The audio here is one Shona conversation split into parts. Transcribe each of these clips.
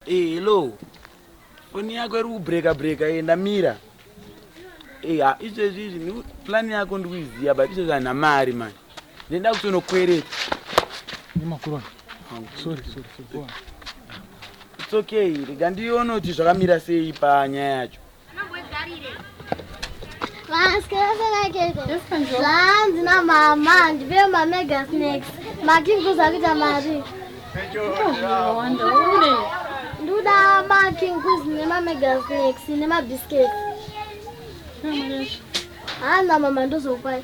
Hey, eh, hello foni yako iri kubreka breka ye eh, ndamira hey, eh, izvezvi izvi plani yako ndikuiziva but izvezvi hana mari mani ndenda kutonokwereta nemakurona sorry sorry sorry it's okay rega ndiono kuti zvakamira sei panyaya yacho zvanzi namama ndive mamega snacks makinguza kuita mari nduda makinguz nemamega snacks nemabiscuits hana mama ndozokwai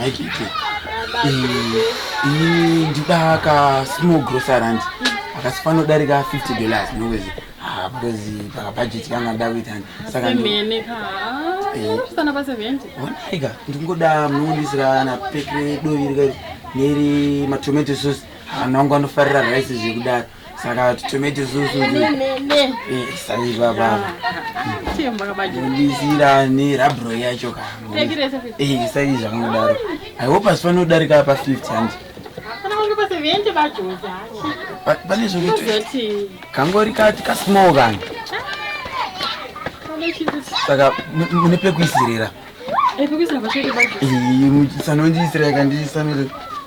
maikiki ini ndida ka small grocerant akasi panodarika 50 dollars nowezi ah, because pakabhajeti kanga nda kuita sakaonaika ndingoda munondisira na pekre dovi rika neri matomato sauce hana wangu anofarira rice zvekudaro saka tomete zusu saizwa baba ndisira nerabro yacho kasaizva kangodaro i hope asi panodarika pa 50 handi pane zvokuti kangori kati kasmall kani saka mune pekuisirira sanondiisira kandisanire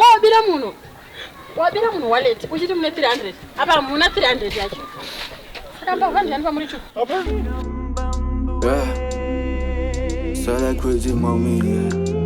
wabira munhu wabira munhu wallet uchiti mune 300 apa hamuna 300 yacho saka mbavha ndiyani pamuri chu Sala crazy mommy yeah.